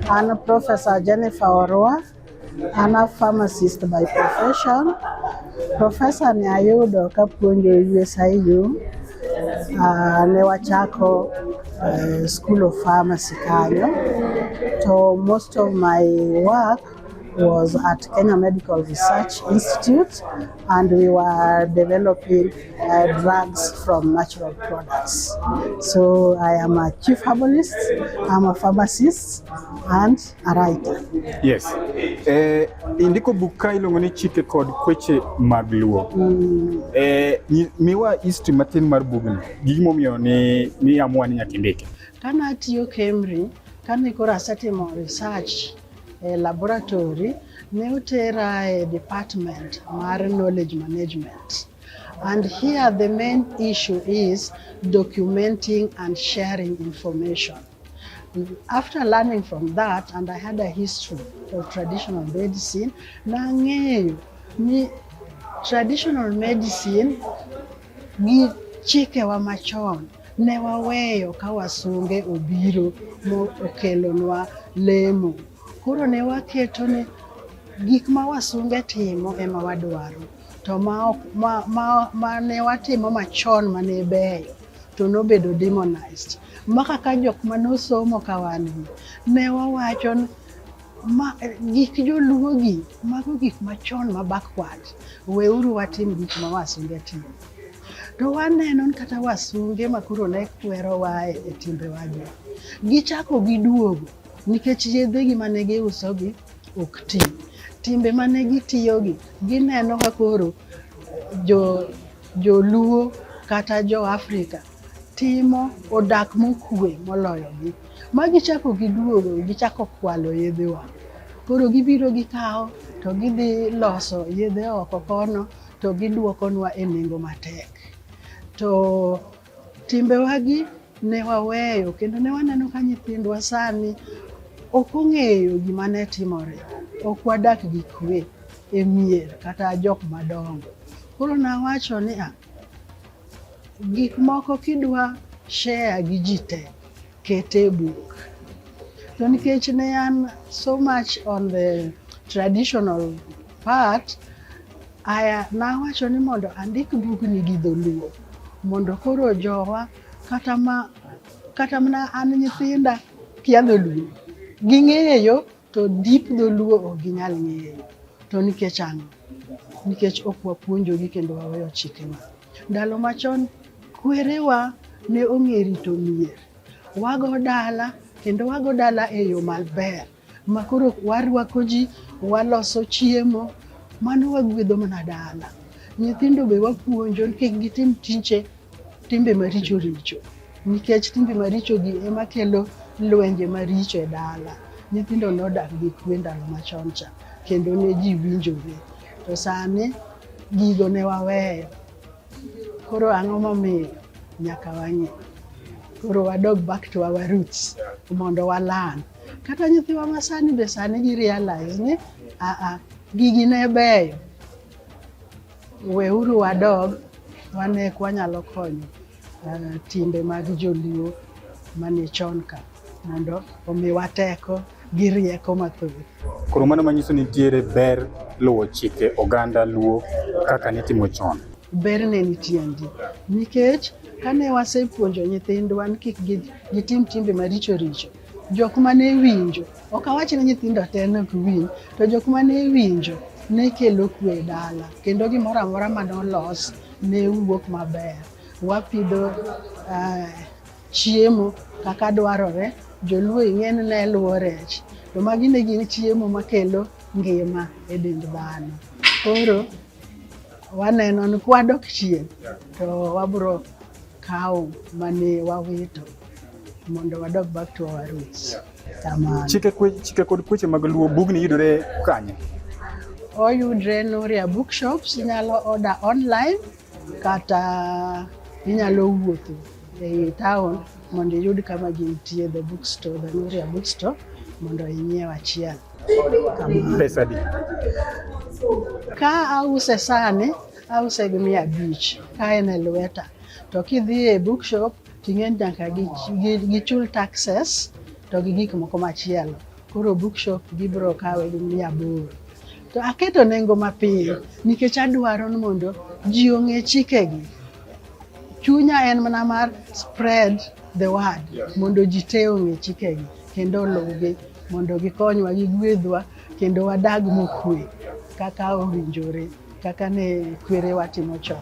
I'm Professor Jennifer Orua. I'm a pharmacist by profession. Professor ni ayudo kapuonjo USIU uh, ah, ne wachako uh, School of Pharmacy kanyo to most of my work was at Kenya Medical Research Institute and we were developing uh, drugs from natural products. So I am a chief herbalist, I'm a pharmacist and a writer. Yes. Eh, indiko buka iluongo ni chike kod kweche mag luo. Mm. Eh, miwa history matin mar bugni. Gimomiyo ni ni amua ni nyaka indike. Kane atiyo Kemri, kane koro asetimo research E laboratory ne otera e department mar knowledge management and here the main issue is documenting and sharing information. After learning from that and I had a history of traditional medicine, nang'eyo ni traditional medicine gi chikewa machon Ne waweyo ka wasunge obiro mokelonwa lemo. Koro ne waketo ni gik ma wasunge timo ema wadwaro. To ma, ma, ma, ma ne watimo machon ma ne beyo to nobedo demonized. Ma kaka jok ma nosomo ka wan ne wawacho ma gik joluogi mago gik machon ma backward weuru watim gik ma wasunge timo to waneno kata wasunge ma koro ne kwerowa e timbewagi gichako giduogo nikech yedhegi mane giusogi ok ti timbe mane gitiyogi gineno ka koro joluo kata jo Afrika timo odak mokue moloyogi. Ma gichako giduogo, gichako kwalo yedhewa. Koro gibiro gikawo to gidhi loso yedhe oko kono to gidwokonwa e nengo matek. To timbewagi ne waweyo kendo ne waneno ka nyithindwa sani ok ong'eyo gima ne timore. Ok wadak gi kwe e mier kata jok madongo. Koro nawacho ni a Gik moko kidwa share gi ji te, kete e buk. To nikech ne an so much on the traditional part, aya nawacho ni mondo andik bugni gi dholuo mondo koro jowa kata ma kata mana an nyithinda kia dholuo ging'eyo To deep dholuo ok ginyal ng'eyo. To nikech ang'o? Nikech ok wapuonjogi kendo waweyo chikewa. Ndalo machon kwerewa ne ong'e rito mier. Wago dala kendo wago dala e yo maber ma koro warwako ji, waloso chiemo, mano wagwedho mana dala. Nyithindo be wapuonjo ni kik gitim tije Timbe maricho richo nikech timbe maricho gi ema kelo lwenje maricho e dala. Nyithindo nodak gi kwe ndalo machon cha kendo ne ji winjore, to sani gigo ne waweyo. Koro ang'o momiyo nyaka wang'e? Koro wadog back to our roots mondo walan. Kata nyithiwa ma sani be sani gi realize ni aa, gigi ne beyo Weuru wadog wane ka wanyalo konyo uh, timbe mag joluo mane chon ka mondo omiwa teko gi rieko mathoth. Koro mano manyiso ni nitiere ber luwo chike oganda luo kaka nitimo chon. Ber ne nitie ndi nikech kane wasepuonjo nyithindwa ni kik gitim timbe maricho richo Jok ma ne winjo, ok awach ni nyithindo te ne ok winj, to jok ma ne winjo ne kelo kwe e dala kendo gimoro amora ma nolos ne wuok maber. Wapidho eh, chiemo kaka dwarore, joluo ing'e ni ne luwo rech, to magi ne gin chiemo makelo ngima e dend dhano. Koro waneno ni kwadok chien to wabro kawo mane wawito mondo wadog back to our roots. Kamano. Chike, kwe, chike kod kweche mag Luo bugni yudore kanye? Oyudre Noria Bookshops, inyalo order online kata inyalo wuotho ei town mondo iyud kama gintie the bookstore, the Noria Bookstore mondo inyiew achiel. Pesa di? Ka ause sani ause gi mia abich ka en e lweta to kidhi e bookshop ting'en nyaka gichul taxes to gi gik moko machielo koro bookshop gibiro kawe gi mia aboro to aketo nengo mapiyo nikech adwaro ni mondo ji ong'e chikegi chunya en mana mar spread the word mondo ji te ong'e chikegi kendo oluwgi mondo gikonywa gigwedhwa kendo wadag mokwe kaka owinjore. Kaka ne kwerewa timo chon.